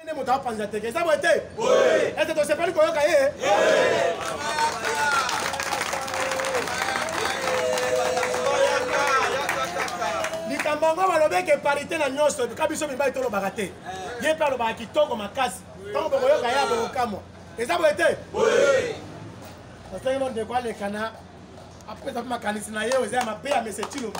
nde moto apanza teke eza boye te ete tosepeli koyoka ye likambo yango balobeki eparite na nyonso ka biso mibali tolobaka te ye mpe alobaka kitoko makasi ntango bokoyoka ye abokokamwa eza boye te osengelo ndeko alekana apesa mpe makanisi na ye oza ya mabe ya mese cilombo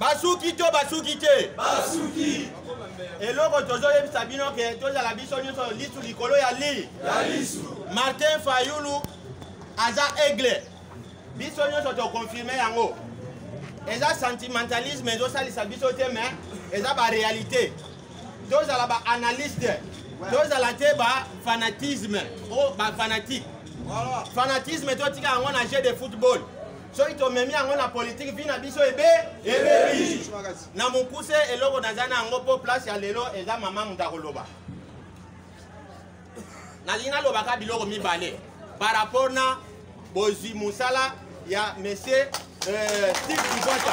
basuki to basuki te basuki eloko tozoyebisa bino ke tozala biso nyonso lisu likolo ya li ya lisu martin fayulu aza aigle biso nyonso tokonfirme yango eza sentimentalisme ezosalisa biso te mais eza baréalité tozala baanalyste tozala te bafanatisme o bafanatique fanatisme totika yango na jeu de football soki tomemi yango na politike vi na biso ebe ebebi na mokuse eloko naza na yango mpo place ya lelo eza mama moto akoloba nalingi nalobaka biloko mibale par rapport na bozwi mosala ya monsieur euh, steve kibota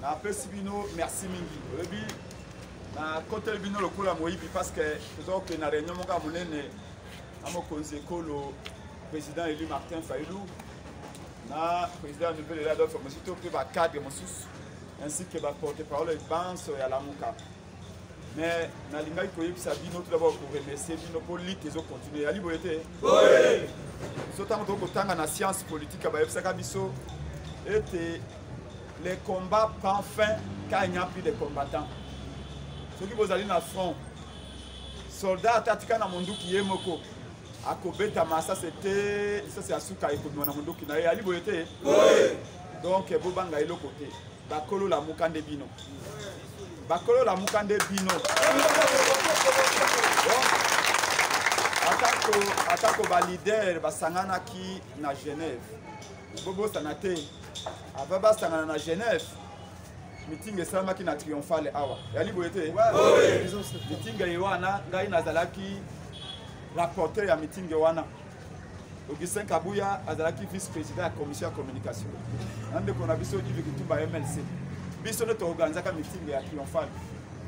napesi bino merci mingi oyebi nakoteli bino lokola moyibi parce que toza kokende na réunion moko ya monene na mokonzi ekolo président élu martin failou na président ya nouvelle ela adolphe mosusu to mpe bacadre mosusu ainsi que baporte parole banso ya lamuka mais nalingaki koyebisa bino tout d'abord koremercie bino mpo lite ezocontinue yali boye te biso ntango toki kotanga na science politique bayebisaka biso ete le combat prend fin quand il n'y a plus de combattants soki bozali na front soldat ata atika na monduki ye moko akobeta masase te lisasi ya suka ekomema na monduki na ye yali boye te donc bobanga eloko te bakolo lamuka nde bino bakolo lamuka nde bino atako atako balider basanganaki na genève bobosana te ava basangana na genève mitinga esalamaki na triomphale awa yali boye te mitinga ye wana ngai nazalaki rapporteur ya mitinga wana augustin kabuya azalaki vice président ya commission ya communication na ndeko na biso ive kitumba mlc biso nde toorganizaka mitingi ya triomphale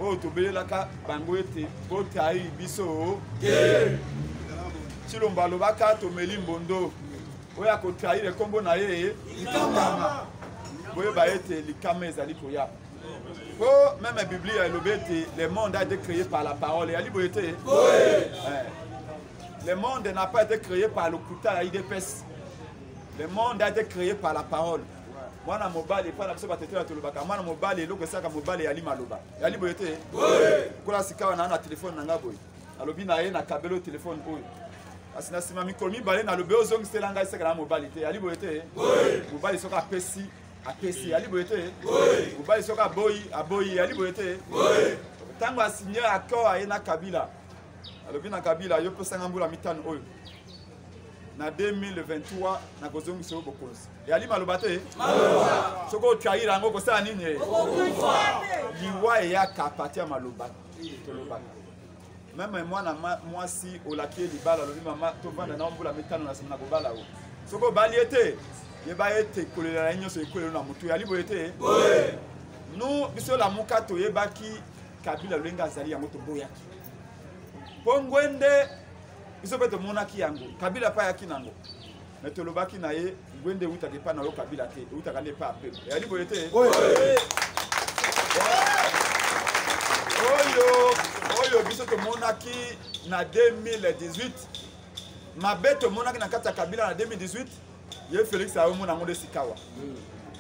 oyo tobelelaka bango ete botai biso cilombo alobaka tomeli mbondo oyo akotraire nkombo na ye likama boyeba ete likama ezali koya mpo meme biblia elobi ete le monde a été créé par la parole eyali boye te Le monde n'a pas été créé par le couta ya IDPS. Le monde a été créé par la parole. mwana mobali epai na biso batetela tolobaka mwana mobali eloko esaka mobali eyali maloba eyali boye te kola sikawa naa na telefone na ngai boye nalobi na ye na kabelo telefone oyo kasi na nsima mikolo mibale nalobi ozongisela ngai seka na mobali te eyali boye te mobali soki apesi apesi eyali boye te mobali soki aboyi aboyi eyali boye te ntango asigne accord aye na kabila alobi na kabila yo pesanga mbula mitano oyo na 2023 nakozongisa yo bokonzi eyali maloba te soki otrahir yango okosala nini ye liwa eyaka pati ya maloba tolobaka meme mwana mwasi olaki ye libala alobi mama tovanda na mbula mitano na nsima na kobala yo soki obali ye te yeba ete kolela na ye nyonso ekwelelo na motu eyali boye te nous biso lamuka toyebaki kabila lolenge azali yango toboyaki mpo ngwende biso mpe tomonaki yango kabila mpe ayaki nango me tolobaki na ye ngwende ewutaka epai na yo kabila te ewutaka nde epai ya peuple eyali boye te oyo oyo biso tomonaki na 2018 mabe tomonaki na kati ya kabila na 2018 ye félix ayomona yango nde sikawa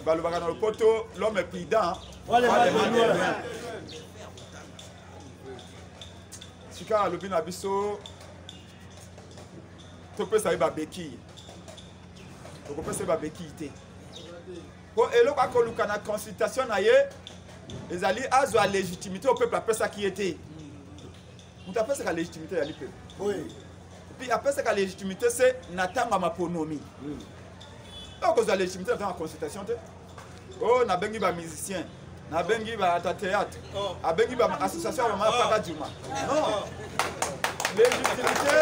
balobaka na lopoto l'homme prudent sikawa alobi na biso topesa ye babekille tokopesa ye babekille te mpo eloko akoluka na consultation na ye ezali azwa légitimité au peuple apesaki ye te moto apesaka légitimité ya lipepe puis apesaka légitimité se na ntango ya maponomi okozwa hmm. légitimité na ntango ya consultation te o oh, nabengi bamusicien nabengi baata théâtre oh. abengi baassociation ya bamaya paka juma oh. non légitimité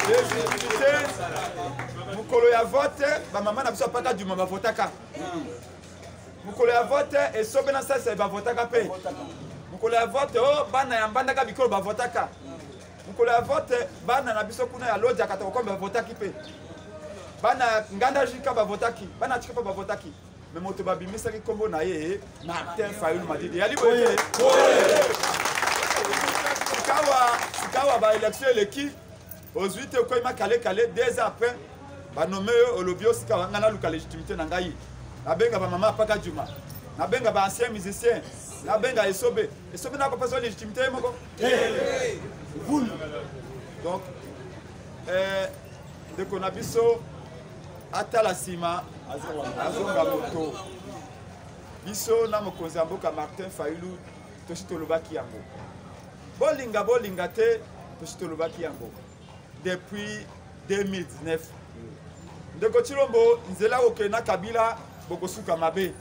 légitimité mokolo ya vote bamama na biso ya paka juma bavotaka hmm. mokolo ya vote esobe na salisa bavotaka mpe mokolo ya vote o oh, bana ya mbandaka bikolo bavotaka mokolo ya vote bana na biso kuna ya lodja katakokombe bavotaki mpe bana ya nganda jika bavotaki bana ya chikapa bavotaki me moto babimisaki nkombo na ye martin fayulu madidi yali boye sikawa sikawa baelektio eleki ozwi te okoyima kale kale deux ans après banome yo olobi osika ngai naluka légitimité na ngai nabenga bamama apaka juma nabenga ba ancien musicien nabenga esobe esobe na kopesa légitimité ye moko donc eh, ndeko na biso atala nsima azonga moto biso na mokonzi ya mboka martin fayulu tosi tolobaki yango bolinga bolinga te tosi tolobaki yango depuis 2019 ndeko chilombo nzela okende na kabila bokosuka mabe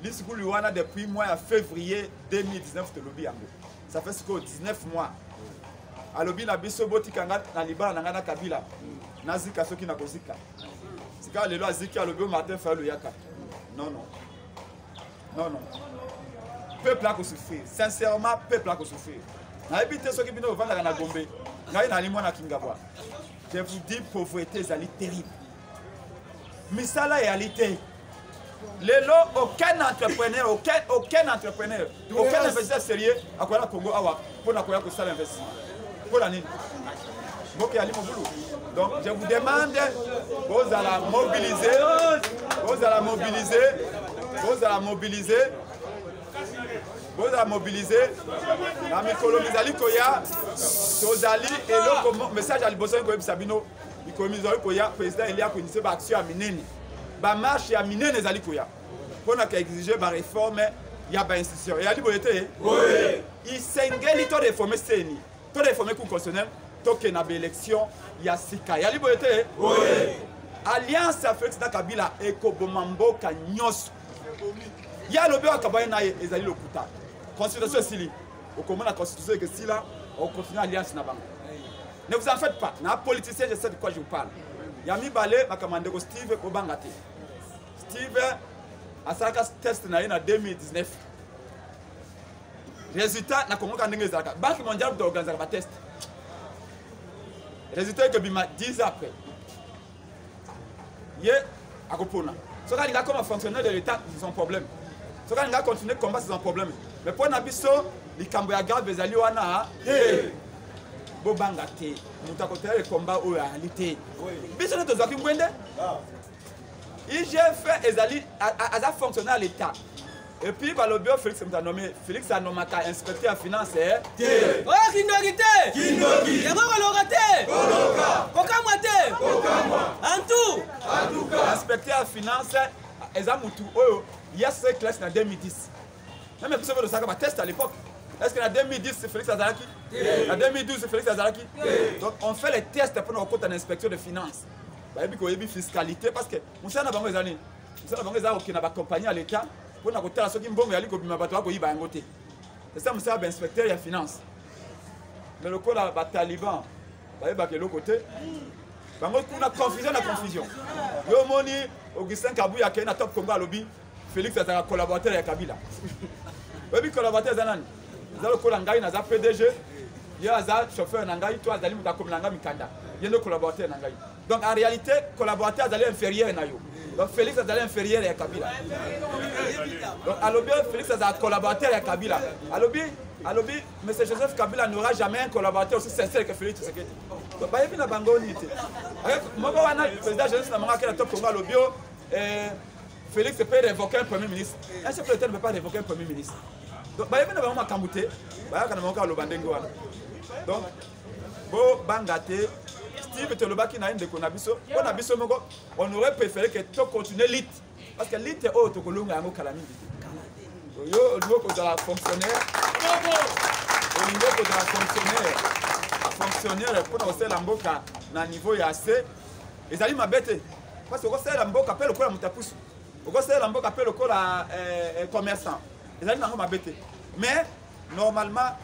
lisukuli wana depuis mois ya février 2019 tolobi yango ça fait sikoyo 19 mois alobi na biso botika nga na libala na ngai na kabila nazika soki nakozika sikawa lelo aziki alobi o martin fayulu yaka non non non non peuple akosouffrir sincèrement peuple akosouffrir nayebi te soki bino bovandaka na gombe ngai nali mwana kingabwa je vous dis pauvreté ezali terrible misala eyali te lelo aucun entrepreneur aucun, aucun entrepreneur aucun investisseur sérieux akoya na congo awa mpo na koya kosala investissement mpo na nini mboka yali mobulu donc je vous demande bozala mobilise bozala mobilise bozala mobilise bozala mobilise na mikolo mizali koya tozali eloko message ya liboso ngi koyebisa bino mikolo mizali koya président elia koinise baaction ya minene bamarshe ya minene ezali koya mpo na koexige bareforme ya bainstitution eyali boye te isengeli to reforme seni to reforme cour constitutionnel tokende na baélection ya sika eyali boye te alliance ya félix na kabila ekoboma mboka nyonso ye alobi oyo akabani na ye ezali lokuta constitution esili okomona constitution ekesila okontinue alliance na bango ne vous en faites pas na politicien je sais de quoi je vous parle ya mibale makambo ya ndeko steve kobanga te Steven asalaka test na ye na 2019 résultat na kongo ka ndenge ezalaka banque mondiale kuta organisaka batest résultat ekobima 10 après ye akopona soki alinga koma fonctionnaire de l'état c'est son problème soki alinga continuer combat c'est son problème mais mpo na biso likambo ya grave ezali wana hey. bobanga te moto akoteya ekomba oyo ayali te biso nde tozwaki ngwende ah. igf ezali aza fonctionnaire ya l'état epuis balobi oyo félix moto anome félix anomaka inspecteur ya finance eh? te oyo kindoki te yango koloka te kokamwa te antu inspecteur ya finance eza motu oyo ya se classe na 2010 meme biso mpe tosaka bateste à l'époque est ce que na 2010 félix azalaki na 2012 félix azalaki donc on fait les tests mpona kokota na inspection de finance bayebi koyebi fiscalité parce que mosala na bango eza nini mosala na bango eza kokenda bacompagnie ya leta mpo na kotala soki mbongo yali kobima bato bakoyiba yango te eza mosala bainspecteur ya finance me lokola bataliban bayebaka eloko te bango kuna confusion na confusion yo omoni augustin kabuya akei na top congo alobi Felix azalaka collaborateur ya Kabila. Oyebi collaborateur eza nani? Eza lokola ngai naza PDG, ye aza chauffeur na ngai to azali moto akomela ngai mikanda. Ye nde collaborateur na ngai. Donc en réalité, collaborateur azali inférieur na yo. Donc Felix azali inférieur ya Kabila. Donc alobi Felix azali collaborateur ya Kabila. Alobi alobi M. Joseph Kabila n'aura jamais un collaborateur aussi sincère que Félix Tshisekedi. Donc bayebi na bango nini te. Moko wana président Joseph Namanga kela top Congo alobi yo eh, Félix peut révoquer un premier ministre. Un chef de l'État ne peut pas révoquer un premier ministre. Donc, bayebi na bango makambo te bayaka na bango kaka loba ndenge wana donc bobanga te steve tolobaki na ye ndeko na biso mpo na biso moko on aurait préféré que tocontinue lite parce que lite oyo tokolonga yango kala mingi te oyo olingi okozala fonctionnaire olingi okozala fonctionnaire fonctionnaire mpo na kosalela mboka na niveau ya se ezali mabe te parce que okosalela mboka mpe lokola moto ya pusu okosalela mboka mpe lokola eh, eh, commerçant ezali nango mabe te mais normalement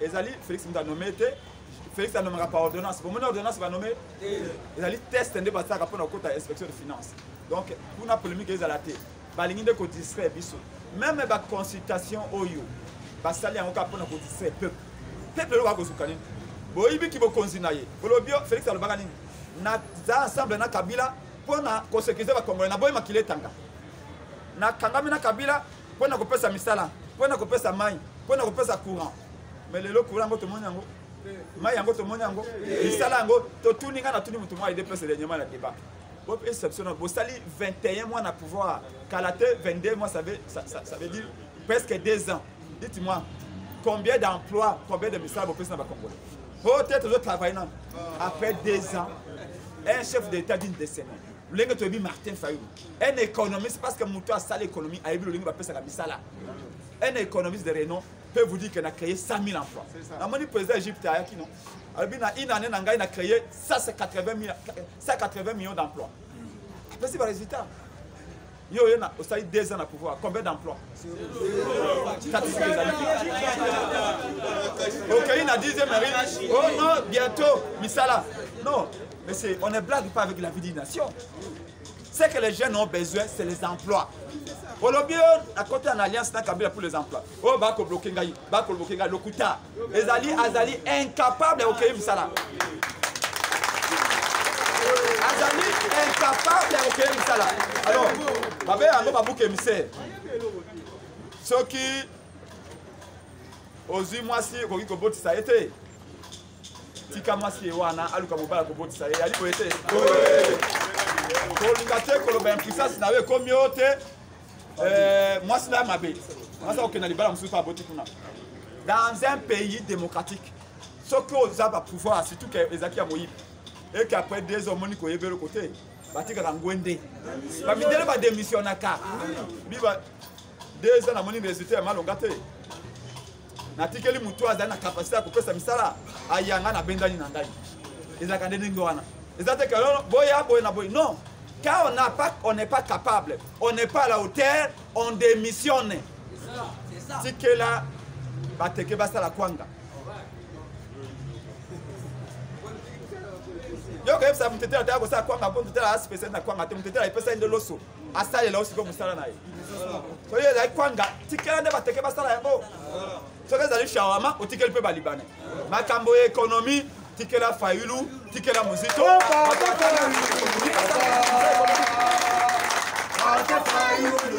ezali félix moto anome te félix anomaka par ordonnance bomoni ordonnance banome ezali test nde basalaka mpona kokota inspection de finance donc kuna polémique ezala te balingi nde kodistraire biso meme baconsultation oyo basali yango kaka mpona kodistraire peuple peuple eloko akozuka nini boyibiki bokonzi na ye bolobi félix alobaka nini na za ensemble na kabila mpo na kosekirize bakongole na boyi makila etanga nakangami na kabila mpo na kopesa misala mpo na kopesa mai mpo na kopesa courant mais lelo courant yango tomoni yango mai yango tomoni yango misala yango totuni ngai natuni motu mwa idps dernièrement na débat bopesa biso na bosali 21 mois na pouvoir kala te 22 mois ça veut, ça, ça, ça veut dire presque 2 ans Dites-moi, combien d'emplois, combien de misala bopesi na bacongolais oyo te tozo travaille nano après deux ans un chef d'état d'une décennie lolenge toyebi martin fayulu un économiste parce que moto asala économie ayebi lolenge bapesaka misala un économiste de renom peut vous dire que na créé 100 000 emplois namoni président égypte ayaki no alobi na une année na ngai na créé 180 millions d'emplois apesi barésultat yo oye osali deux ans na pouvoir combien d'emploi statistique ezali okei na dixième marine oh non bientôt misala non mais c'est on ne blague pas avec la vie d'une nation ce que les jeunes ont besoin c'est les emplois olobi yo na kota na alliance na kabila pour les emplois oyo oh, bakobloke ngai bakobloke ngai lokuta ezali azali incapable ya kokei mosala azali incapable ya kokei mosala alors babe yango babuka emissaire soki ozwi mwasi okoki kobotisa ye te tika mwasi ye wana aluka mobala kobotisa ye yali boye te kolinga te koloba impuissance na yo ekomi yo te Euh, mwasi na mabe mwasi akokenda libala mosusu mpe aboti kuna dans un pays démocratique soki oza bapouvoir surtout ke ezalaki ya moyibi eke après deux omoni koyeba eloko te batikaka ngwende bamidele badémissionnaka biba deux ans namoni résultat ya malonga te natikeli motu oyo azali na kapasite ya kopesa misala ayanga na bendani na ngai ezalaka nde ndenge wana eza te kalono boya boye na boye non car on n'a pas on n'est pas capable on n'est pas à la hauteur on démissionne tikela bateke basala kwanga yo koyebisa motetela te akosala kwanga mpo motetela aspesiali na kwanga te motetela epesai nde loso asalela yo sikoyo mosala na ye soki ezali kwanga tikela nde bateke basala yango soki ezali shawama otikeli mpe balibane makambo ya ekonomi tikela fayulu tikela mozito Fayulu,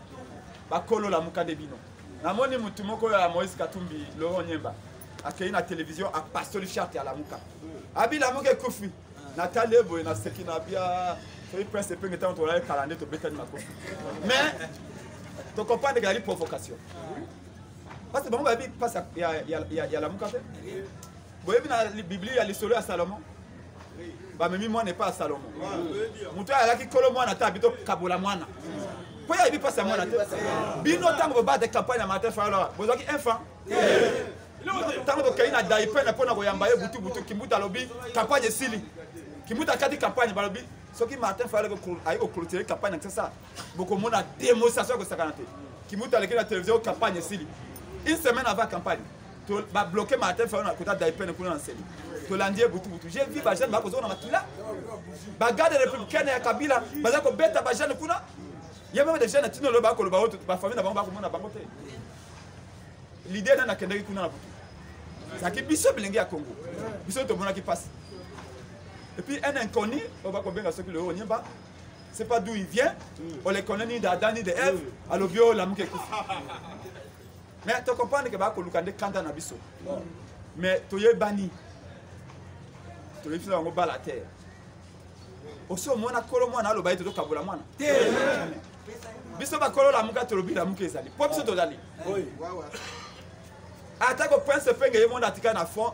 bakolo lamuka nde bino namoni mutu moko oyo ya moïse katumbi laurent nyemba akei na télévision apastoli charte ya lamuka abi lamuka ekufi natali ye boye naseki na bia soki prince epenge ntango tolali kala nde tobetani makofi mais tokompande ezali provocation parce bango bayebi mpasi ya lamuka te boyebi na biblia ya lisolo ya salomon bamemi mwana epai ya salomo moto oyo alaki kolo mwana ata abi tokabola mwana mpo ye ayebi mpasi ya mwana te bino ntango bobata campagne ya martin fayolo bozwaki infant ntango tokei na daipene mpo na koyamba ye butubutu kimbuta alobi campagne esili kimbuta akati campagne balobi soki martin fayolo aye koclotire campagne na kisasa bokomona demonstration ya kosakana te kimbuta aleki na televizio campagne esili une semaine avant campagne babloke martin fayo na kota daipene kuna na nseli tolandi ye butubutu je vi bajeune bakozonga na makila bagarde républicaine ya kabila baza kobeta bajeune kuna ye meme dejeune na tino loyo bakoloba oyo bafamille na bango bakomona bango te lide nani akendaki kuna na butu ezalaki biso bilenge ya congo biso tomonaki mpasi epuis un inconnu oyo bakobenga soki loyo onyemba c'est pas d'où il vient on les connaît ni d'adam ni de eve alobi oyo lamuka ekufi mais to comprendre ke bakoluka nde kanda na biso mais toyebani toyebisi na bango bala te osi omona kolo mwana aloba ye totokabola mwana te biso bakolo lamuka tolobi lamuka ezali mpo biso tozali atako prince penge ye mona atika na fond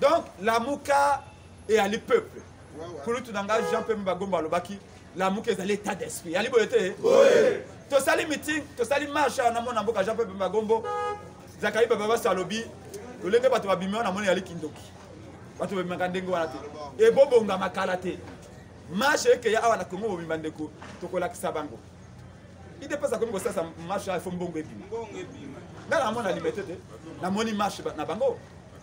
donc lamuka eyali peuple kulutu na ngai jean pembe bagomba alobaki lamuka ezali état d'esprit yali boye te tosali meeting tosali marche awa namona mboka jean pembe bagombo zakai baba basi alobi lolenge bato babimi wana namoni yali kindoki bato babimaka ndenge wana te ebobongama kala te marche ekeya awa na kongo bobima ndeko tokolakisa bango idepesa komi kosalisa marche awa efo mbongo ebima ngai namona limete te namoni marche na bango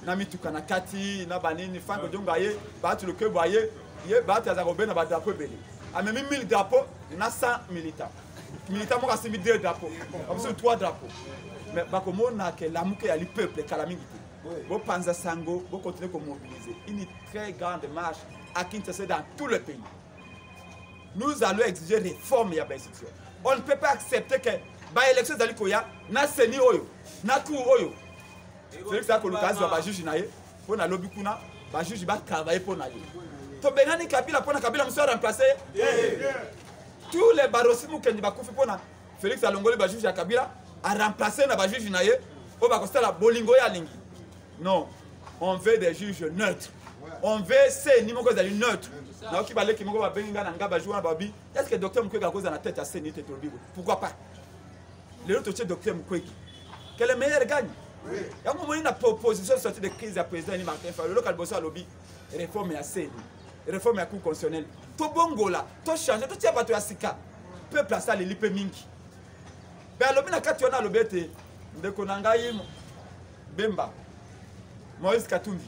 na mituka na kati na banini fango jonga ye bato lokebo aye ye bato aza kobe na badrapo ebele amemi 1000 drapo na 100 militant militant moko asimbi 2 drapo bamosusu 3 drapo mais bakomona ke lamuke yali peuple kala mingi te bopanza sango bokontinue komobiliser une très grande marche à kinshasa dans tout le pays nous allons exiger réforme ya bainstitution on ne peut pas accepter que baélection ezali koya na seni oyo na cour oyo felix akoluka azwa bajuge na ye mpo na lobi kuna bajuge batravaille mpo na ye tobengani kabila mpo na kabila mosu aremplace ye tous les barosi mokendi bakufi mpo na felix alongoli bajuge ya kabila aremplace na bajuge na ye oyo bakosala bolingo ye alingi non on veut des juges neutres on veut seni moko ezali neutre nayoki baleki moko babengi ngai na ngai bajour wana babi est ce que docteur mokweka akozala na tete ya seni te tolobi pourquoi pas lelo totie docteur mukwege que le meilleur gagne yango omoni na proposition sorti de crise ya président ni martin fayulu loka liboso alobi réforme ya seni réforme ya cour constitutionnelle tobongola tochange totia bato ya sika peuple asaleli mpe mingi mpe alobi na kati wana alobi ete ndeko na ngai bemba moïse katumbi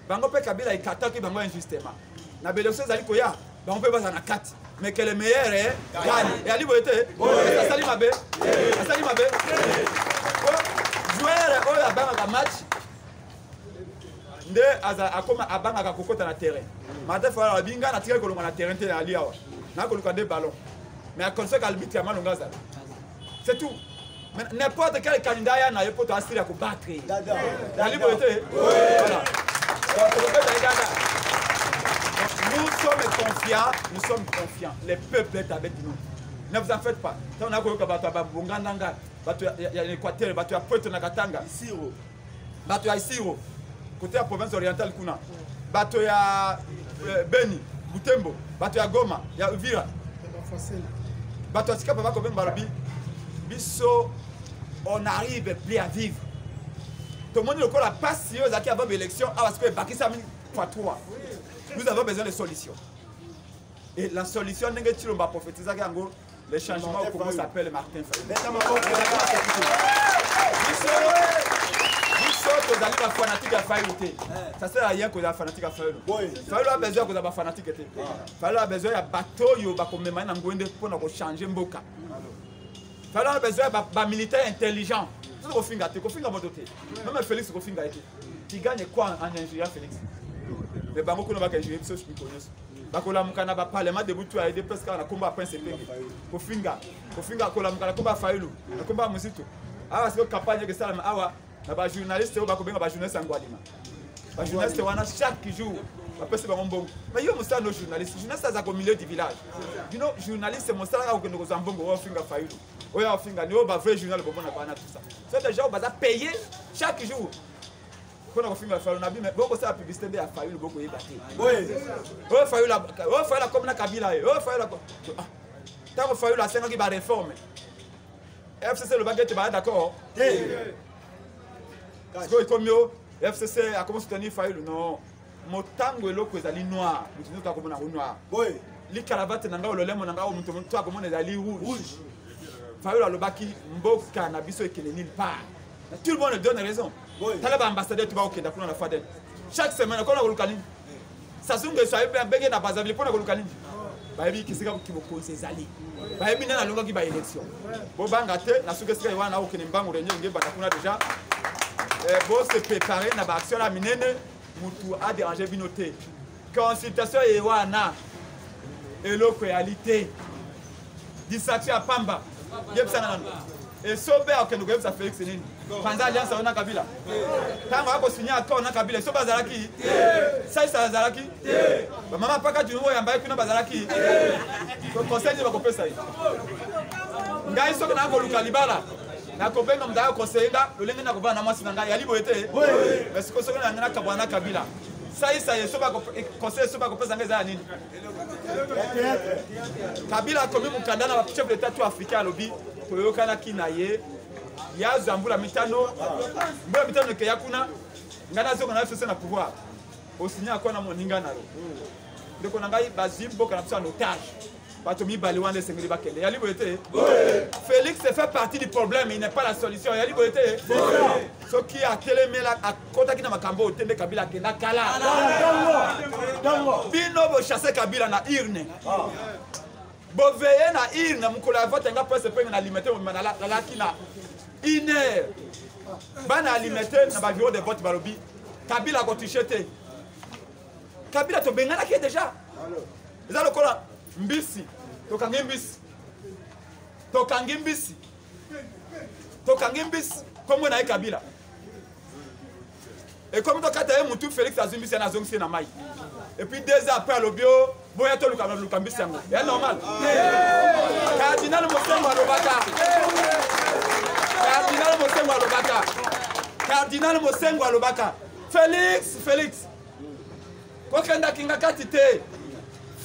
bango mpe kabila ekataki bango injustement na belection ezali koya bango mpe bazala na kati mais que le meilleur eh, gagne eyali boye te asali mabe asali mabe joueur oyo abangaka match nde akoma abangaka kokota na terrain martin fala alobi ngai natikaki kolonga na terrain te nayali awa nakoluka nde ballon mais aconseque albitre ya malonga azala c'est tout mais n'importe quel candidat ya na ye mpo toasili ya kobattre ye nali boye te voilà nous sommes confiants nous sommes confiants les peuples est avec nous ne vous en faites pas ntango nakoyoka bato ya babongandanga bato ya équateur bato ya poeto na katanga bato ya isiro kote ya province orientale kuna bato ya eh, beni butembo bato ya goma ya uvira bato ya sikapa bakobemba balobi biso on arrive plus à vivre tomoni lokola mpasi oyo ezalaki avant baélection awa sikoyo ebakisami fois 3 nous avons besoin de solution et la solution ndenge tshilomba prophétisaki yango Le changement au Congo s'appelle Martin Fayulu. biso tozali bafanatike ya fayulu te ça sert à rien kozala fanatike ya fayulu fayulu a besoin ya kozala bafanatike te fayulu a besoin ya bato oyo bakomema ye na ngoi nde mpo na kochange mboka fayulu a besoin ya bamilitaire intelligent soki kofinga te kofinga moto te meme félix kofinga ye te tu gagne quoi en ingénieur félix mais bango kuna baka ingénieur biso mikolo nyonso bakolamuka na baparlement de butu ya edps kaka na kombo ya prince epenge kofinga kofinga akolamuka na kombo ya failu na kombo ya mozito awa sikoyo campagne eke esalama awa na bajournaliste oyo bakobenga bajournaliste yango alima bajournaliste wana chaque jour bapesi bango mbongo mai yo mosala no journaliste journaliste aza ko milieu du village bino journaliste mosala kaka kokende kozwa mbongo oyo ofinga failu oyo afinga ni oyo bavrai journal bomonaka wana tusa so dejà oyo baza paye chaque jour mpona kofingela fayulu na bime bokosala publicité nde ya fayulu bokoyeba te oyo fayulu akomi na kabila ye oyo fayulu ntango fayulu asengaki bareforme fcc elobaki ete baya d'accord sikoyo ekomi yo fcc akomi soutenir fayulu non motango eloko ezali noir moto nzoto akomona yango noir boye likalavate na ngai ololemo na ngai moto moto akomona ezali rouge fayolo alobaki mboka na biso ekende nil part na tout le monde donne raison tala baambassadeur to bakokenda kuna na fadel chaque semaine okona koluka nini sasungeso abenge na bazavile mpona koluka nini bayebi kisika bokonzi ezali bayebi nani alongaki baélection bobanga te na suki esika wana nakokende mbangu renio ngebanda kuna deja eh, bose prepare na baaction ya minene mutu a déranger bino te consultation ye wana eloko eyali te distraction ya pamba yebisana nano esobe akokende koyebisa félix nini panza alliance yango na kabila ntango akosinya accord na kabila esobe azalaki saisa azalaki bamama paka dino oyo yambaki kuna bazalaki conseil nini bakopesa ye ngai soki naa koluka libala nakobenga moto aya koseye nga lolenge nakobana na mwasi na ngai yali boye te mais sikoyo soki nangai nakabwana na kabila saisa ye eh, conseil so bakopesa ngai eza ya nini kabila akomi mokanda na bachef d'etat to africain alobi toyokanaki na ye yazwa mbula mitano mbula mitano ekeya kuna ngai nazonga na fese na pouvoir osinya akwa na moninga na yo ndeko na ngai bazwi mboka na biso ya notage bato mibale wana esengeli bakende yali boye te félix fait partie du problème il n'est pas la solution yali boye te soki atelemela akotaki na makambo oyo te nde kabila akenda kala bino bochasse kabila na urne ah. boveye na urne mokolo ya vote yanga presse penge na limete mobima nalaki na une heure bana alimete na baviro de vote balobi kabila akotushe te kabila tobenganaki ye déjà eza lokola mbisi tokangi mbisi tokangi mbisi tokangi mbisi nkombo na ye kabila ekomi tokata ye motu félix azwi mbisi yana azongisi ye na mai epuis deux ans après alobi o boya toluka luka mbisi yango ya normal cardinal mosengo alobaka cardinal mosengo alobaka cardinal mosengo alobaka félix félix kokenda kingakati te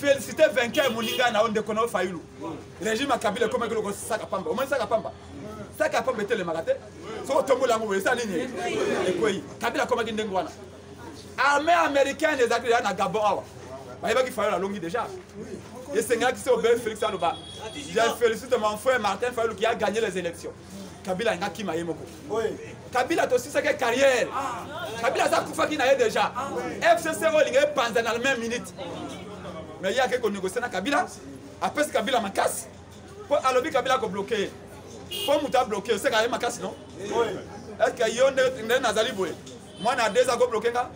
félicité vainqueur moninga na yo ndeko na yo fayulu régime ya kabila ekomaki loko saka pamba omoni saka pamba saka ya pamba etelemaka te soki otombola yango boye esa nini ekwei kabila akomaki ndenge wana armée américaine ezalaki deja na gabon awa bayebaki fayulu alongi deja esengelaki se obele félix aloba je félicite mon frère martin fayulu qui a gagné les élections kabila alingi akima ye moko kabila tosisaki carrière kabila aza kufaki na ye déjà fcc oyo elingi epanza na la même minute mais ye akei konegocie na kabila apesi kabila makasi mpo alobi kabila akobloke ye mpo moto abloke oseka ye makasi no estce yo nde nazali boye mwana ya deza akobloke nga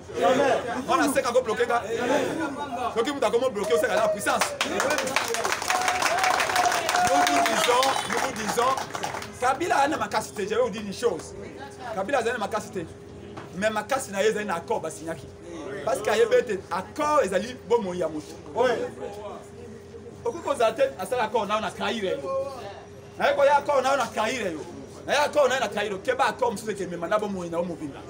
mwana seka akobloke nga soki moto akomobloke oseka la puissance nous vous disons nous vous disons kabila azali na makasi te je vais vous dire une chose kabila azali na makasi te mais makasi na ye ezali na accord basignaki parce que ayebi ete accord ezali bomoi ya moto okoki kozala te asala accord nao na trahire naye koya akoo nayo na kaire yo naye akoo naye na kaire keba akoo mosusu ekemema na bomoi na yo mobimba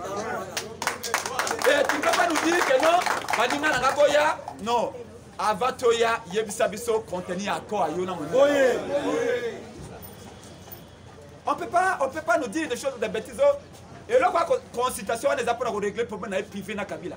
eh, tu peux pas nous dire que non baninga nanga boya non avant toya yebisa biso contenu ya akoo ayo na moninga on peut pas on peut pas nous dire des choses de bêtises eloko ya consultation wana eza mpona koregle problème na ye privé na kabila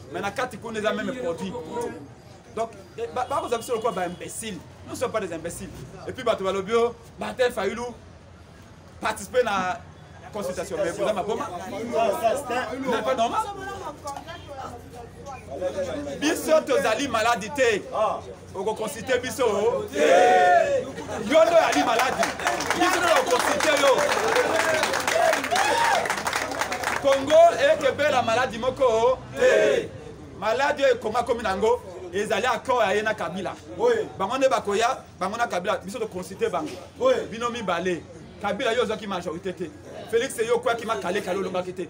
mais na kati kuna eza meme produit donc eh, bakozwa biso lokola baimbécile nous sommes pas des imbéciles et puis bato balobi o martin fayulu participe na consultation mais boza maboma n'est pas normal biso tozali maladi te okoconsulte biso te yo nde oyali maladi biso nde okoconsulte yo kongo ekebela maladi moko te maladi oyo kongo akomi na yango ezali accord ya ye na kabila bango nde bakoya bango na kabila biso toconsulte bango bino mibale kabila yo ozwaki majorité te félix yo okwaki makalekale olongaki te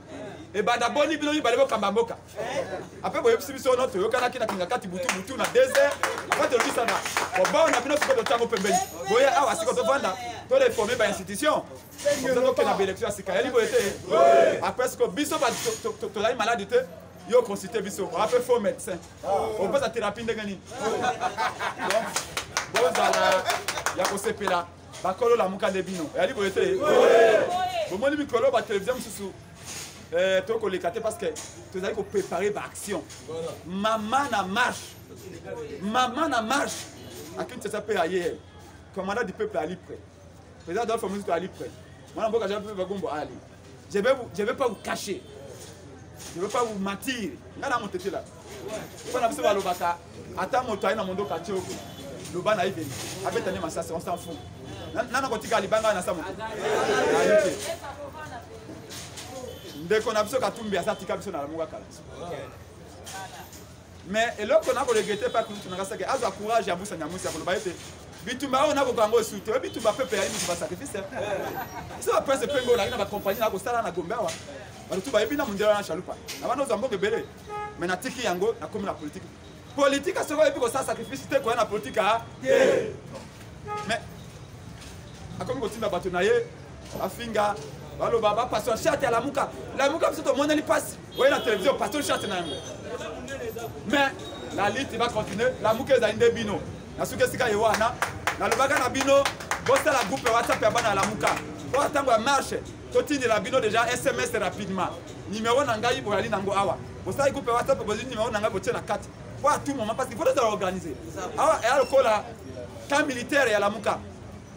ebanda boni bino mibale bokamba mboka apres boyebisi biso no toyokanaki na kingakati butu butu na desert apres tolobisana bobao na bino sikoyo totango pembeni boye awa sikoyo tovanda toreforme bainstitution oza tokenda baélection ya sika yali boye te apres sikoyo biso tozali maladi te yo consulte biso ape faux médecin opesa thérapie ndenge nini bozala ya kosepela bakolo lamuka nde bino yali boye te bomoni mikolo batelevizio mosusu Euh, to koleka te parce que tozali koprépare baaction mama na marche mama na marche akinshasa mpe aye commandant du peuple ali près président adolphe mozitu ali près mwana mboka jean peuple bagombo ali je vais pas vous cacher je vais pas vous mentir ngai na motetela bana biso balobaka ata moto aye na mondoka atie oko loba na ye pene abeta nde masasi on s'en fout nana kotika libanga na samu ayike ndeko na biso katumbi aza tika biso na lamuka kala mais eloko na koregrete pa kutu nanga sake azwa courage ya busa nyamusi ya koloba ete bitumba oyo nakoka yango esu te oyo bitumba pepe yayi bitumba sacrifice biso bapresse mpe ngo olaki na bacompagnie na kosala na gombe awa bato tu bayebi na mondela na chalupa na bana ozwa mboka ebele mais natiki yango nakomi na politike politike soki oyebi kosala sacrifice te koya na politike a te mais akomi kotinda bato na ye bafinga baloba bapasteur charte ya lamuka lamuka biso tomoneli mpasi oye na televizio pasteur charte na yango mais la lite bacontinue lamuka ezali nde bino na suki esika ye wana nalobaka na bino bosala groupe ya whatsapp ya bana ya lamuka oyo ntango ya marche totindela bino deja sms rapidement numero na ngai boyali nango awa bosali groupe ya whatsapp bozwi numero na ngai botie na kati po a tout moment parce qu'il faut tozala organise awa eya lokola camp militaire ya lamuka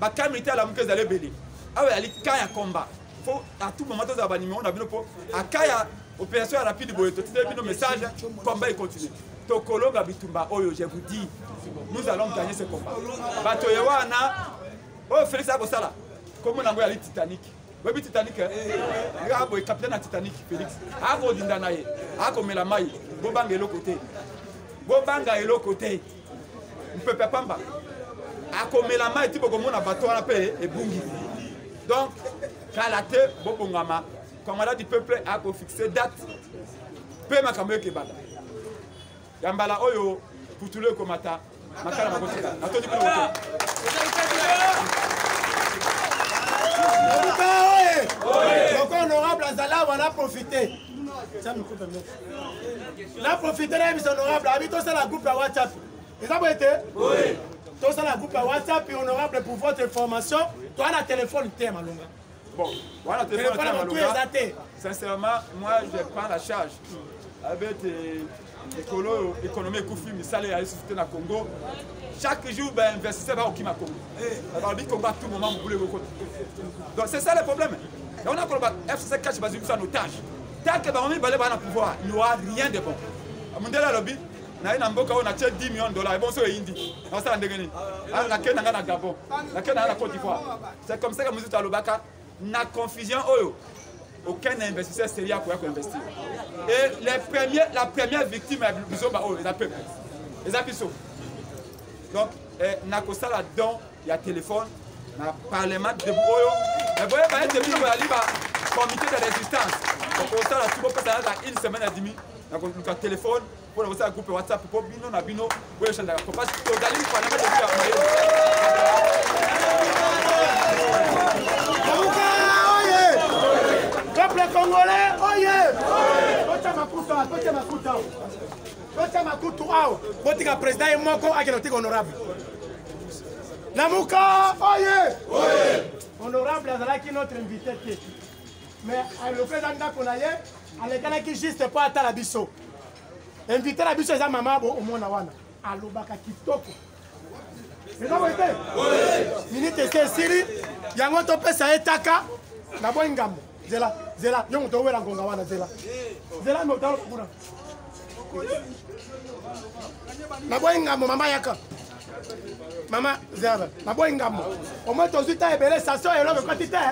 bacamp militaire ya lamuka ezali ebele awa eyali camp ya combat fo a tout moment tozala banumero na bino po aka ya opération ya rapide boye totindeli bino message combat econtinue tokolonga bitumba oyo je vous dis nous allons gagner ce combat bato ye wana oyo felix aya kosala kombo nango yali titanic oyebi titanic nga eh? boye capitaine ya titanic felix akodinda na ye akomela mai bobanga eloko te bobanga eloko te mpepe pamba akomela mai ti bokomona bato wana mpe ebungi donc kala te bobongama commandant du peuple akofixe date mpe makambo ekebanda ya mbala oyo putulu ekomata makala makotika natondi kuna moto donc honorable azala wana profite na profite na yebisa honorable abi tosala groupe ya whatsapp eza boye te tosala groupe ya whatsapp honorable pour votre information toa na telefone te ya malonga Bon, voilà, tu es pas dans le Sincèrement, moi, je prends la charge. Avec l'écolo, l'économie Koufi, Missale, la société na Congo. Chaque jour, ben, investisseur va au Kima Congo. Alors, eh. dit qu'on va tout moment, vous voulez vous Donc, c'est ça le problème. Et on a qu'on va FCC cache basé sur en otage. Tant que Baromi Balé va dans le pouvoir, il n'y aura rien de bon. Amundela Lobby, naye na mboka oyo natye 10 million dollar ebonso eyindi nasala ndenge nini nakei na ngai na gabon nakei na ngai na cote d'ivoire C'est comme ça que Mouzito Alobaka, na confusion oyo, aucun investisseur sérieux akoya ko investir. Et les premiers, la première victime ya bizoba oyo eza peuple. Eza biso. Donc eh, nakosala don ya téléphone na parlement de oyo. Mais boye ba ete bino boyali ba comité de résistance. Okosala tu bopesa na une semaine et demie nakoluka téléphone mpo na kosala groupe whatsapp mpo bino na bino boyechanjaka kopasi tozali panama debi ya mayele peuple congolais oye totia makuta totia makuta totia makutu awa botika président ye moko akende kotika honorable lamuka oye honorable azalaki notre invité te mais alokeza ndako na ye alekanaki juste mpo atala biso invité na biso eza mama bo omona wana alobaka kitoko eza boye te minute esi esili yango topesa ye taka na boi ngambo zela zela yo moto owela ngonga wana zela zela motalo kuna na boi ngambo mama yaka mama zerbe naboyi ngambo omoi tozwi ta ebele station eloko ekoti te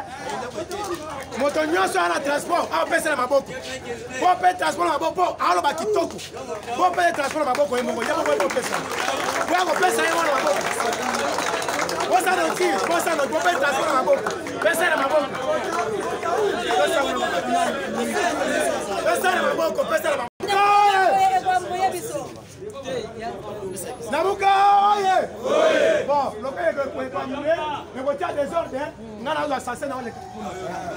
moto nyonso aya na transport aopesela maboko po mpe transport na maboko mpo aoloba kitoko po mpe transport na maboko ye moko ye moko ekopesa po akopesa ye wana maboko bosana otire bosana po mpe transport na maboko pesana maboko pesana maboko pesana maboko nabuka oye bon lokola ekoekonue ekotya desordre ngai nazwa sase na oleka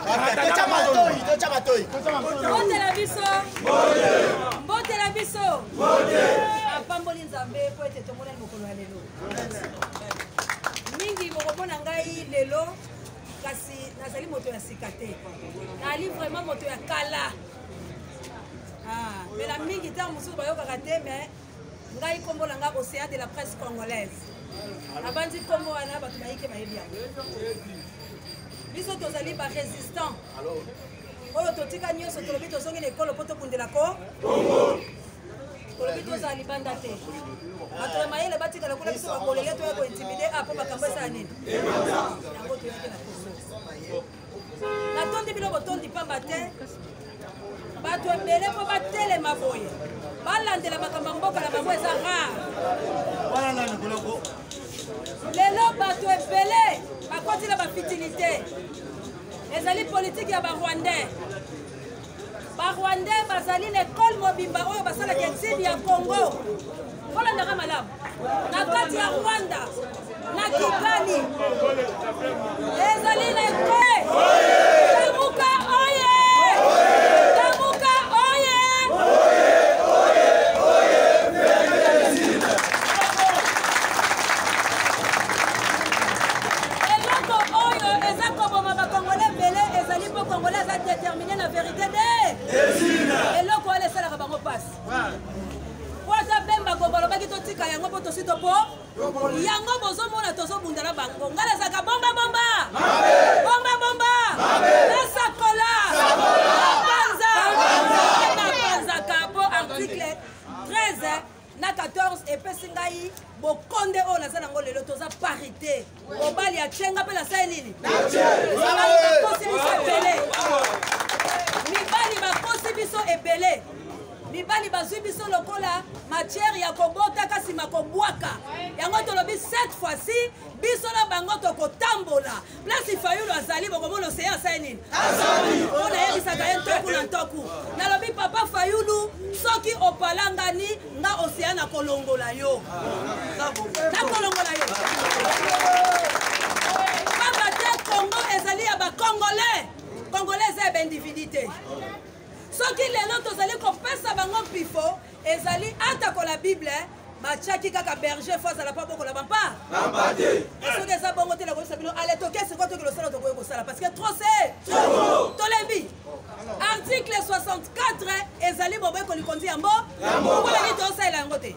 kunatotya matoi totya matoi mbotela biso mbotela biso apamboli nzambe mpo ete tomonani mokolo ya lelo mingi bokomona ngai lelo kasi nazali moto ya sika te nali vraiment moto ya kala Ah, mbela mingi ntango mosusu bayokaka te mais ngai nkombo na ngai océan de la presse congolaise abandi nkombo wana bato bayike bayebi yango biso tozali barésistant oyo totika nyonso tolobi tozongi na ekolo mpo tobundela ko tolobi tozala libanda te bato ya mayele batikala kuna biso bakolele toya kointimide a ah, mpo makambo esala nini yango toyaki na koso natondi bino botondi mpamba te bato ebele mpo batelema boye balandela makambo ya mboka na bango eza rare lelo bato ebele bakoti na bafitilité ezali politiki ya barwandais barwandais bazali na ekole mobimba oyo basalaka exile ya congo kolandaka malamu na kati ya rwanda na kigali ezali na ekole lamuka oye lamuka oye eloko oyo eza koboma bakongole ebele ezali po congolais aza déterminé na vérité de eloko wana esalaka bango mpasi po ata bemba gogo alobaki totika yango mpo tosi topo yango bozomona tozobunda na bango ngai nazalaka bomba bomba bomba bomba nasakola panza napanzaka mpo article 13 na 14 epesi ngai bokonde oyo naza nango lelo toza parité mobali atye nga mpe nasali nini mibali bakosi biso ebele mibali bakosi biso ebele mibali bazwi biso lokola matière ya kobota kasi makobwaka yango tolobi cette fois-ci biso na bango tokotambola place fayulu azali bokomona oseye asali nini mpo nayebisaka ye ntoku na ntoku nalobi papa fayulu soki opalangani nga oseye na kolongola yo na kolongola yo pamba te congo ezali ya bacongolais congolais eza ya baindividu te soki lelo tozali kopesa bango mpifo ezali atako la bible batiaki kaka berger fo azala mpa bokola bampa bampa te soki eza bongo te nakoyebisa bino ale toke sikoyo toki losala tokoki kosala parce que trop se tolembi article 64 ezali boboyekoli konzi ya mbo mpo nani tosalela yango te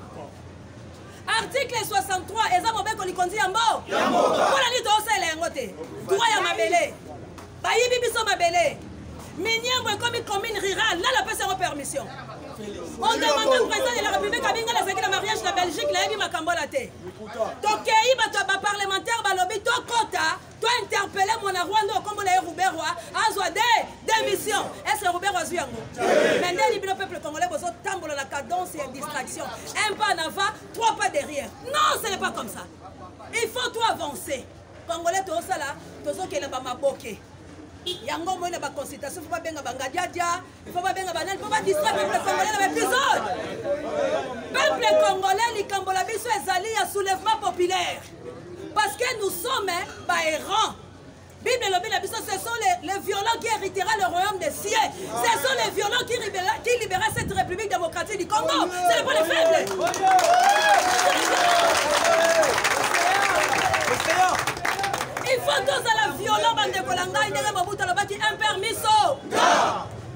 article 63 eza mobeko likonzi ya mbo mpona nini toosala yango te droit ya mabele bayibi biso mabele miniango ekomi commune rurale nani apesi yango permission on demanda président de la république abinga nazalaki na mariage na belgique nayebi makambo wana te tokei bato ya baparlementaire balobi tokota to interpelle mwana rwanda oyo kombo na ye ruberwa azwa de démission est ce que ruberwa azwi yango mais ndeni bino peuple congolais bozotambola na cadence ya distraction un pas en avant trois pas derrière non ce n'est pas comme ça il faut to avancer congolais tozosala tozokenda bamaboke yango omoi na baconsultation fo babenga bangadiadia Il faut babenga banani mpo badistra peuple congolais na baepisode peuple congolais likambo na biso ezali ya soulèvement populaire parce que nous sommes baerrant Bible elobi na biso ce sont les, les violents qui héritera le royaume des cieux. Ce sont les violents qui libéra, qui libéra cette République démocratique du Congo. C'est le point de faible. Il faut tous à la violent bande de Kolanga, il y a un permis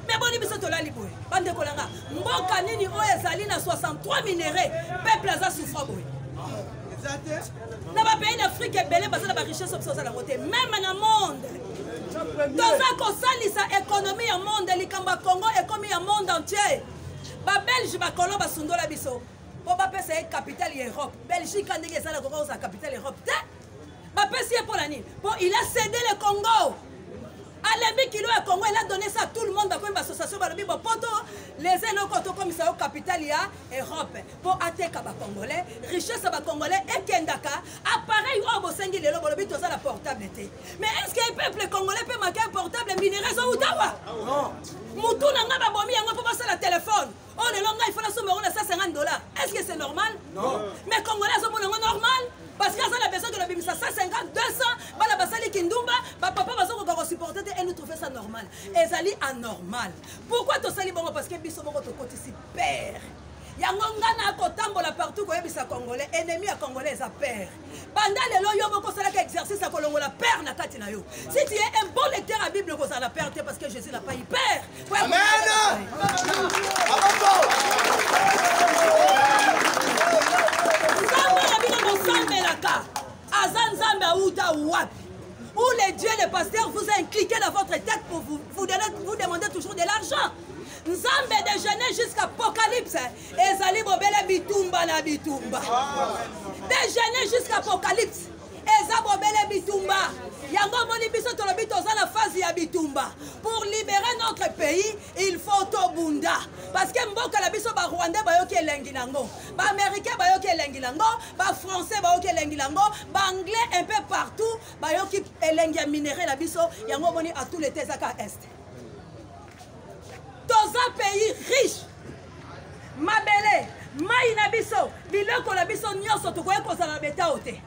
me boni biso tolali boye bandeko na nga mboka nini oyo ezali na 63 minerais peuple aza souffra boye na bapays d'afrike ebele baza na barichesse oyo biso oza nango te meme na monde toza kosalisa ekonomi ya monde likambo ya congo ekomi ya monde entier babelge bakolo basundola biso mpo bapesa ye capitale ya europe belgique ndenge eza na kokozala capitale europe te bapesi ye mpo na nini mpo il a cede le congo alembi kilo ya congo ela donne ça tout le monde bakomi bassociation balobi bopoto les eloko tokomisa yo capital ya europe mpo ateka bacongolais richesse ya bacongolais ekendaka appareil oyo bosengi lelo bolobi toza na portable te mais est ce que peuple congolais mpe maka portable minere ezowutawa motu na ngai babomi yango mpo basala telefone Oh lelo ngai fona somba yango na 150 dollars. Est-ce que c'est normal? Non. Mais congolais azomona yango normal? Parce que aza na besoin que nabimisa 150, 200, bana basali kindumba, bapapa bazokoka kosupporte te et nous trouve ça normal. Ezali anormal. Pourquoi tosali bongo? Parce que biso moko tokotisi père. yango nga nakotambola partout koyebisa congolais ennemi ya congolais eza père banda lelo yo moko osalaka exercice ya kolongola père na kati na yo si tu es un bon lecteur ya bible okozala na père te parce que jésus na pai père nzambe na bino bosambelaka aza nzambe auta wapi ou les dieux les pasteurs vous a incliqué dans votre tête pour vous, vous, donner, vous demander toujours de l'argent nzambe de genèse jusqu'à apocalypse ezali bobele bitumba na bitumba de genèse jusqu'à apocalypse eza bobele bitumba yango omoni biso tolobi toza na phase ya bitumba pour libérer notre pays il faut tobunda parce que mboka na biso barwandais bayoki elengi nango baaméricain bayoki elengi nango bafrançais bayoki elengi nango baanglais un peu partout bayoki elengi ya minerai na biso yango omoni atout leta ezaka este toza pays riche mabele mai na biso biloko na biso nyonso tokoki kozala na betao te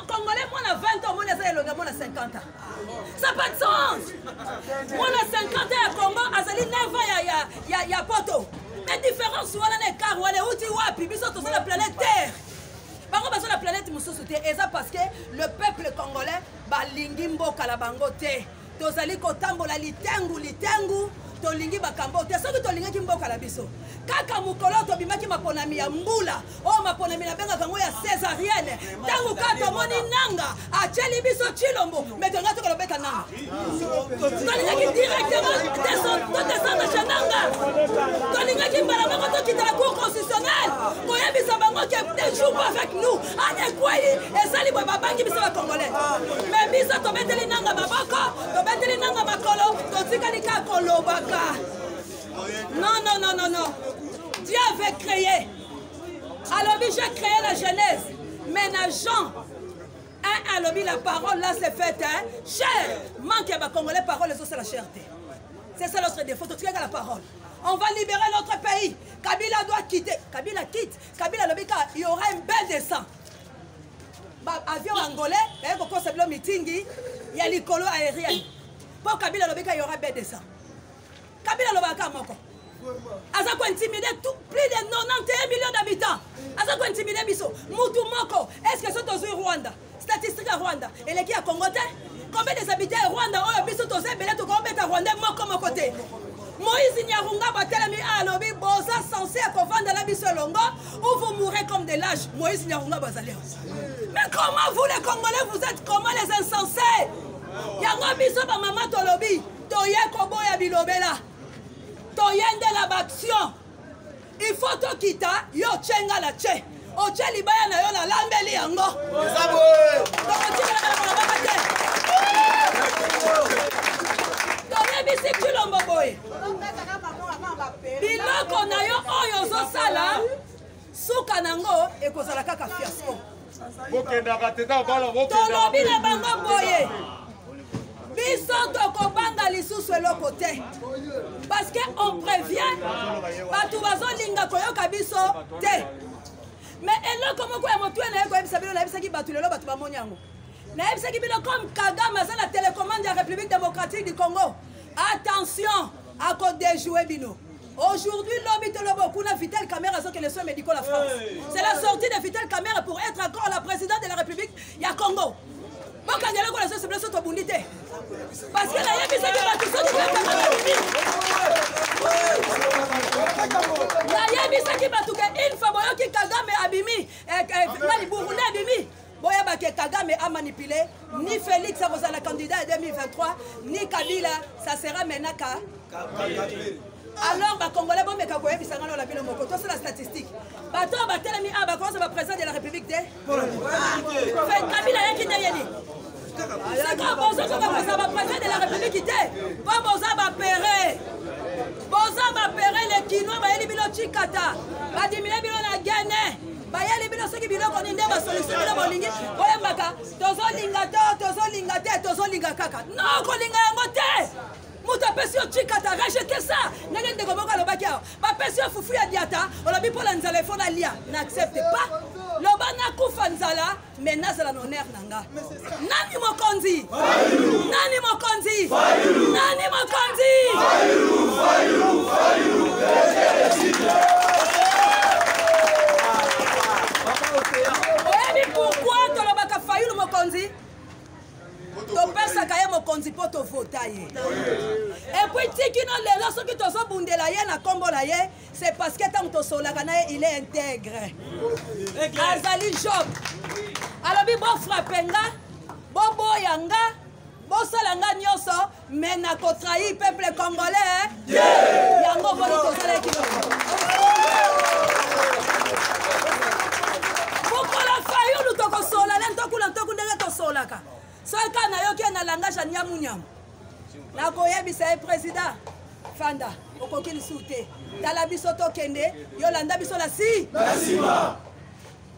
congolais mwana 20 omoni aza elonga mwana 50 ans ça pas de sens mwana 50 ans ya congo azali 9 ans ya, ya, ya, ya poto mais différence wana na ekar wana euti wapi biso toza na planète terre bango baza na planète mosusu te eza parce que le peuple congolais balingi mboka na bango te tozali kotambola litengu litengu tolingi bakambo te soki tolingaki mboka na biso kaka mokolo tobimaki maponami ya mbula oyo maponami nabengaka yango ya césarienne ntango kaka tomoni nanga atyeli biso cilombo me tolinga toka lobeta nanga tolingaki directement totesanga chez nanga tolingaki mbala moko tokitala cour constitutionnel koyebisa bango ke te jour avec nous ane ekwei ezali boye babangi biso bacongolais me biso tobeteli nanga maboko tobeteli nanga makolo totikali kaka kolobaka non non non non non dieu avait créé alobi je créé la genèse mais na jean un alobi la parole là c'est faite hein? cher manque ya bacongolais parole ezosala cher te c'est ça notre défaut totikaka la parole on va libérer notre pays kabila doit quitter kabila quitte kabila alobi ka y aura un bain de sang baavion angolais baye kokosa bilo mitingi ya likolo aérienne mpo kabila alobi ka y aura bain de sang kabila alobaka ka moko aza kointimide plus de 91 millions d'habitants aza kointimide biso mutu moko est ce que so tozwi rwanda statistique ya rwanda eleki ya congo te combien des habitants ya rwanda oyo biso toza ebele tokobeta rwandais moko moko te moïse nyarunga batelemi alobi boza sense ya kovanda na biso elongo ou vous mourrez comme des lâches moïse nyarunga bazali mais comment vous les congolais vous êtes comment les insensés yango biso bamama tolobi toye koboya bilobela toye nde la baction il faut tokita yo tye nga na tye otye libaya na yo nalambeli yango tokotikalakalabaka te toyebisi kilombo boye biloko na yo oyo ozosala suka na yango ekozala kaka fiasco tolobi na bango boye biso tokobanga lisusu eloko te parce que on prévient bato bazolinga koyoka biso te me eloko moko ya motuya na ye koyebisa bino nayebisaki bato lelo bato bamoni yango nayebisaki bino comme kagame aza na telecommande ya république démocratique du congo attention akodejoue bino Aujourd'hui, lobi tolobo kuna Vital Kamerhe azoke les soins médicaux la France. C'est la sortie de Vital Kamerhe pour être encore la présidente de la République ya Congo. bokangela kola soso biso tobundi te parce que nayebisaki bato soki nayebisaki bato ke une fois boyoki kagame abimi eh, eh, nani burunde abimi boyeba ke kagame amanipule ni félix akozala candidat ya 2023 ni kabila ça sera maintenant ka alors bacongolais bomeka koyebisa ngai lola bino moko tosala statistique bato oyo batelemi awa bakoza baprésident de la république te kabila ayaki ndenge nini sikoyo bozokoka kozala baprésident de la république te mpo boza bapere boza bapere le kinois bayeli bino cikata badimine bino na gene bayeli bino soki biloko nini nde basolution bino bolingi boyembaka tozolinga to tozolinga te tozolinga kaka no kolinga yango te moto apesi yo chikata rejete sa ndenge ndeko moko alobaki awa bapesi yo fufu ya diata olobi mpo na nzala efo nalia na accepte pas loba nakufa nzala me nazala na honere na nga nani mokonzi nani mokonzi nani mokonzi oyebi pourkui tolobaka fayulu mokonzi topesaka ye mokonzi mpo tovota ye epuis tikino lelo soki tozobundela ye na nkombo na ye c'est parce que ntango tosololaka na ye il est integre azali job alobi bofrape nga boboya nga bosala nga nyonso me na kotrahi peuple congolais yango boni tosalaki mokola fayulu tokosola le ntokuna ntoku ndenge tosolaka soki kaka nayoki ye na langage ya nyamunyamu nakoyebisa ye président fanda okoki lisusu te tala biso tokende yo landa biso na si na nsima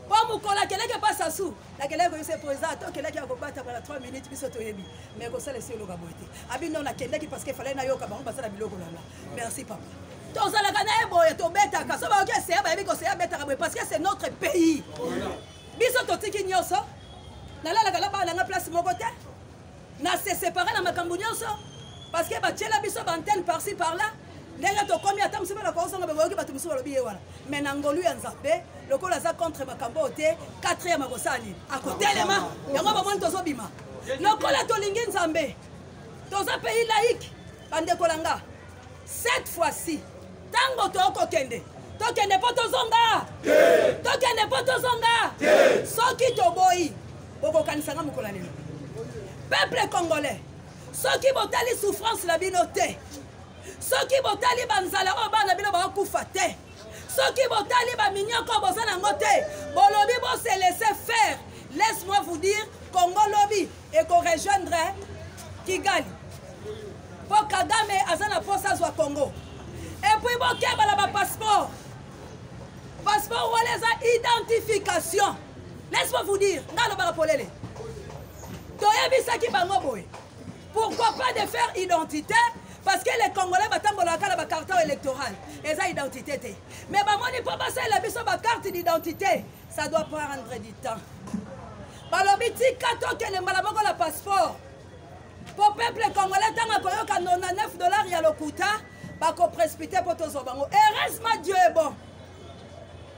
mpo mokolo akeleke mpa sasu nakelaki koyebisa ye président to okelaki ya kobatama na 3 minutes biso toyebi mais kosala esi oloka boye te abi no nakendaki parce que efalai nayoka bango basala biloko langa merci papa tozalaka na ye boye tobetaka so bayoki eseya bayebi koseya abetaka boye parce que c'est notre pays biso totiki nyonso nalalaka na bana na nga place moko te na se séparer na makambo nyonso parce que batyela biso baantenne parci par là ndenge tokomi ata mosusu bana kozonga bakoyoki bato mosusu balobi ye wana mai na ngolu ya nzambe lokola aza contre makambo oyo te quatrième akosala nini akotelema yango bamoni tozobima lokola tolingi nzambe toza pays laïque bandeko na nga cette fois-ci ntango tokokende tokende mpo tozonga tokende mpo tozonga soki toboyi bokokanisanga mokolo ya lelo peuple congolais soki botali souffrance na bino te soki botali banzala oyo bana bino bakokufa te soki botali baminyoko boza nango te bolobi bose laisse faire laisse moi vous dire kongo lobi ekorejoindre kigali mpo kagame aza na mposa azwa congo epuis bokeba na bapasseport passeport wana eza identification laisse-moi vous dire ngai alobaka polele toyebisaki bango boye pourquoi pas de faire identité parce que les congolais batambolaka kaka na bacarton électoral eza identité te mais bamoni mpo basalela biso bacarte d'identité ça doit prendre du temps balobi tika tokende mbala moko na passeport mpo peuple congolais ntango akoyoka 99 dollar ya lokuta bakoprespite mpo tozwa bango heureusement dieu est bon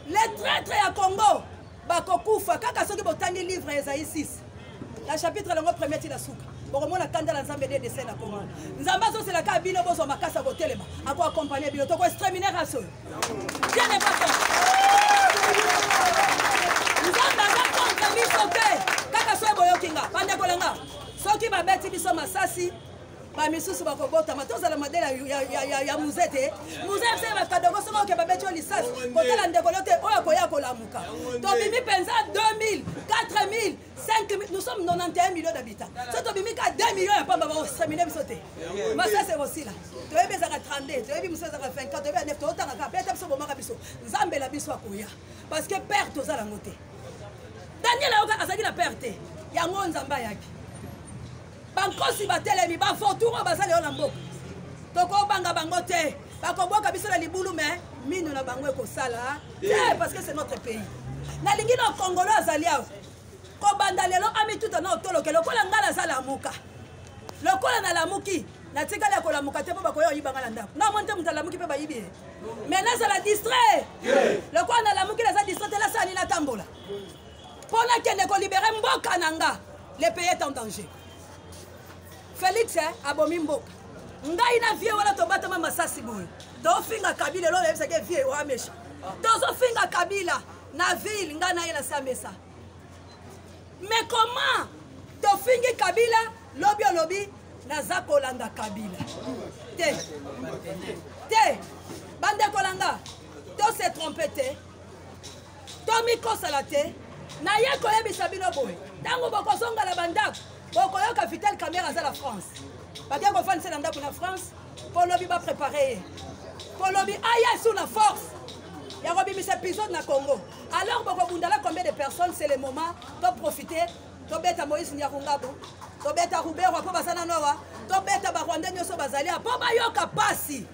les traitre ya congo bakokufa kaka soki botangi livre ya ezai 6 na chapitre yango premier ti na suka bokomona kanda na nzambe nde desai na kongo nzambe azosela kaka bino bozwa makasi ya kotelema akoakompagne bino toko extraminer race oyo bien n'est pas ça nzambe aza contre biso te kaka soki boyoki nga bandeko na nga soki babeti biso masasi bamisusu bakobotama tozala madele ya muze te muze se bakadogo soki oke babeti yo lisasi kotala ndeko lio te oyo akoya kolamuka tobimi mpenza 2000 4000 5000 nous sommes 91 millions d'habitants so tobimi ka 2 millions ya pamba bakosemine biso te masasi ekosila toyebi ezaka 32 toyebi mosusu ezaka 24 toyebi ya 9 totanga kaka mpe ata biso bomaka biso nzambe na biso akoya parce que père toza nango te daniel ayoka azalaki na père te yango nzambe ayaki bankosi batelemi bavotour oyo baza lelo na mboka tokobanga bango te bakobwaka biso na libulu me mino na bango ekosala te parce que c'est notre pays nalingi na kongolo azali awa kobanda lelo amituta na otoloke lokola ngai naza lamuka lokola nalamuki natikali ya kolamuka te mpo bakoya oyibanga na ndako na omoni te moto alamuki mpe bayibi ye mai nazala distrait lokola nalamuki naza distrait te nasala nini natambola mpo nakende kolibere mboka na nga le pays est en danger félix eh, abomi mboka ngai na vie wana tobatama masasi boye tofinga kabila elo oyebisaki eh, vie oamesha tozofinga kabila na ville ngai na ye na samesa mais comment tofingi kabila lobi olobi naza kolanda kabila te te bandeko na nga to se trompe te tomikosala te naye koyebisa bino boye ntango bokozonga na bandako bokoyoka vital camera aza na france bake kofandisa na ndako na france polobi baprepare ye polobi aya sur la force ya kobimisa épisode na congo alors bokobundala combien de personnes c'est le moment toprofite tobeta moïse nyakungabu tobeta ruberwa mpo baza na nowa tobeta barwanda nyonso bazali mpo bayoka mpasi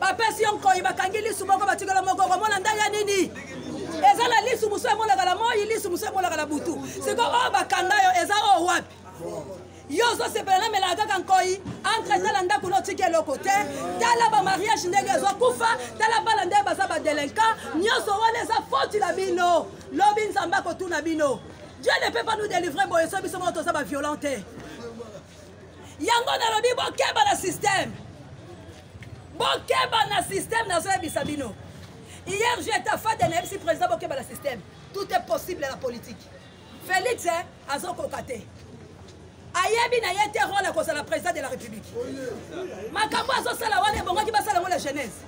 bapesi yo nkoi bakangi lisu moko batikela moko okomona ndenge ya nini eza na lisu mosusu emonaka na moi lisu mosusu emonaka na butu siko oyo bakanga yo eza oyo wapi yo ozosepela namelaka kaka nkoi entre tala ndako na otiki eloko te tala bamariage ndenge ezokufa tala bana ndenge baza badelinquant nyonso wana eza foti na bino lobi nzambe akotuna bino dieu ne peut pas nous délivrer boye so biso moko toza baviolent te yango nalobi bokeba na systeme bokeba na systeme nazoyebisa bino hier je tafade nayebisi président bokeba na systeme tout est possible na politique félix eh, azokoka te ayebi na ye te role akozala président de la république makambo azosala wana ebongaki basala yango la genèse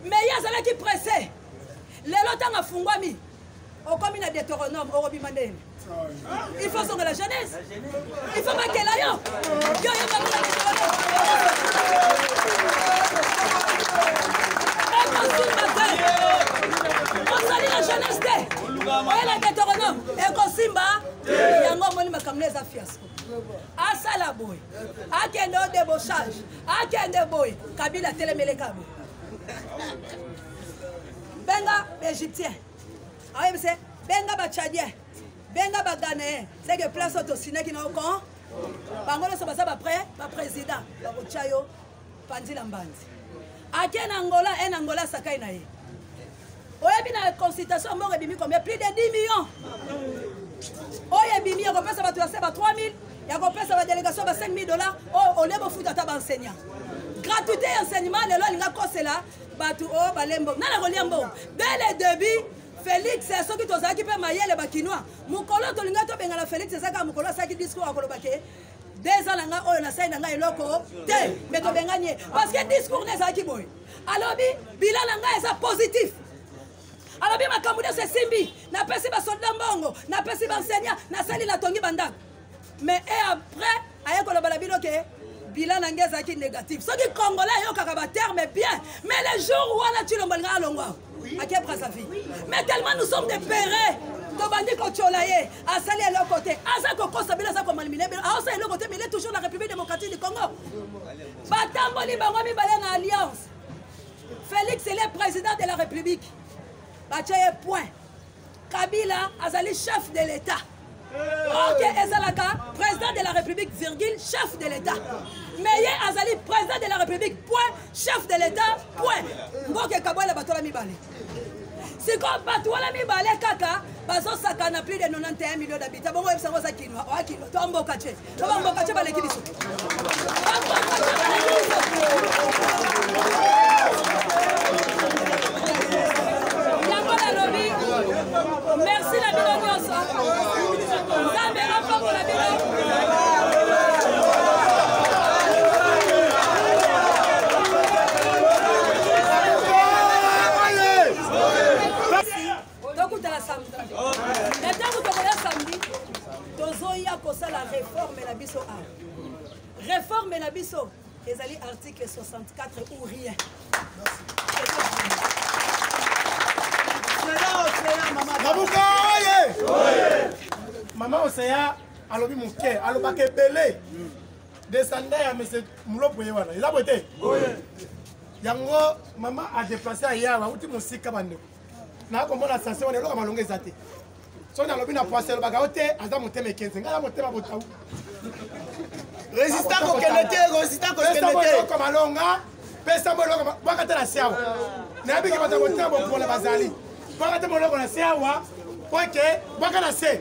mais ye azalaki presse lelo ntango afungwami okomi na deuteronome okobima ndeni il faut ozonga la genèse il faut bakela yo yo yebakela ozali na genèse te oye na deuteronome ekosimba yango omoni makambo na eza fiasco asala boye akende o debauchage akende boye kabila telemeleka boye benga baegyptien ayebi se benga bachadien benga baghanéen seke place oyo tosinaki na ocon bango nyonso baza bapre baprésident bakotya yo panzi na mbanzi ake na angola e na angola asakai na ye oyebi na consultation ya mboka ebimi combien plus de 10 millions oyo ebimi ya kopesa bato ya se ba 3000 ya kopesa badélégation ba 5000 dollars oyo olie bofuta ata baenseignant gratuité ya enseignement lelo alinga kosela bato oyo oh, balembo nani akolia mbongo dès le début félix soki tozalaki mpe mayele bakinois mokolo tolingai tobengana félix ezaka mokolo asalaki discours akoloba ke deux ans na ngai oyo nasali na ngai eloko te me tobengani ye parce que discours na ezalaki boye alobi bila na ngai eza positif alobi makambo nyonso esimbi napesi basolda mbongo napesi banseignant nasali natongi bandako mais et après aye koloba na bino ke bilan na ngai ezalaki négatif soki congolais ayokaka baterme bien mais le jour wana cilombo alinga alongwa ake brasavi mais tellement nous sommes des pere tobandi kotyola ye asali eloko te aza kokosa bino aza komalimine bino aosala eloko te mile toujours na république démocratique du congo batamboli bango mibale na alliance félix ele président de la république batya ye point kabila azali chef de l'état ok ezalaka président de la république virgule chef de l'état mais ye azali président de la république point chef de l'état point mboka ekabwela bato wana mibale sikoyo bato wana mibale kaka bazosakana plus de 91 million d'habitant bongo oyebisa yango oza kinwa oya kinwa to mboka te Loba mboka che baleki biso. Yango nalobi merci na bino nyonso. Nzambe apambola bino. tokutana samedi na ntango tokoya samedi tozoya kosala reforme na biso awa reforme na biso ezali article 64 ou rien mabuka oye mama oseya alobi moke alobaka ebele desanda ya mese mulopo ye wana eza boye te yango mama adeplace aya awuti mosika bandeko na komona sase wana eloko malonga eza te soki nalobi na poise elobaka yo te aza motema ekenze ngai na motema botau resista kokende te resista kokende te eloko malonga pesa mo eloko bwaka te na se awa nayebiki bato ya motema bopola bazali bwaka te moloko na se awa po ete bwaka na se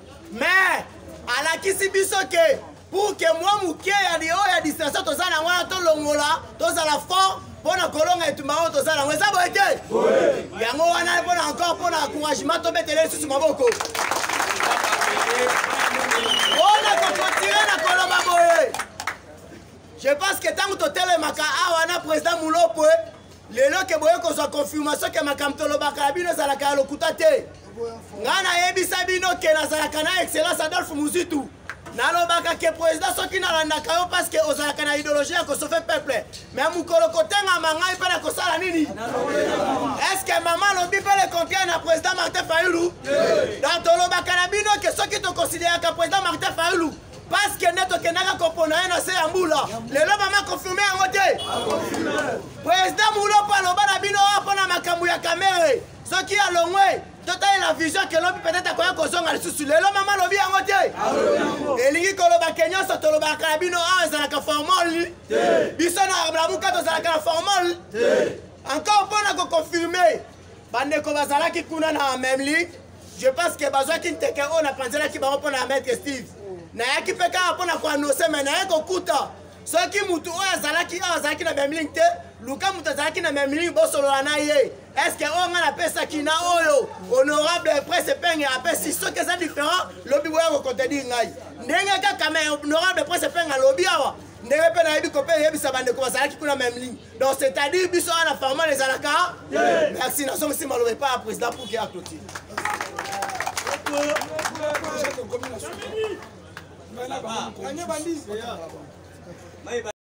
mais alakisi biso ke pour ke mwa moke ya oyo ya distraction toza na yango wana tolongola tozala fort mpo na kolonga etumba oyo toza nango eza boye te yango wana mpo na encore mpo na encouragement tobetele lisusu maboko mpona kokotire na koloba boye je pense ke ntango totelemaka awa na président mulopwe lelo ke boye kozwa confirmation ke makambo tolobaka ya bino ezalaka ya lokuta te ngai nayebisa bino ke nazalaka na excellence adolphe muzitu nalobaka ke président soki nalandaka yo parce que ozalaka na idéologie ya kosofe peuple me mokolo kotengama ngai mpe na kosala nini est ce que mama alobi mpe le contraire na président martin fayulu donc tolobaka na bino ke soki tokonsideraka président martin fayulu paske nde tokendaka kopona ye na se ya mbula lelo mama konfirme yango te president mulopo aloba na bino oyo mpo na makambo ya kamere soki alongwe totalela vision kelobi peut-être akoya kozonga lisusu lelo mama alobi yango te elingi koloba ke nyonso tolobaka na bino awa ezalaka formal biso na lamuka tozalaka na formal encore mpo na koconfirme bandeko bazalaki kuna na meme league je pense que bazwaki nteke oyo napanzelaki bango mpo na maître steve nayaki mpe kaka mpo na koannonce mai naye kokuta soki motu oyo azalaki oyo azalaki na meme ligne te luka moto azalaki na meme ligne bosolola na ye estce oyo ngai napesaki na oyo honorable prince epenge apesi soki eza différent lobi boya kokontedi ngai ndenge kaka me honorable prince epenge alobi awa ndenge mpe nayebi kope eyebisa bandeko bazalaki kuna meme ligne donc c'est à dire biso wana farman ezalaka merci nazongisi maloba epai ya président puki ya clotire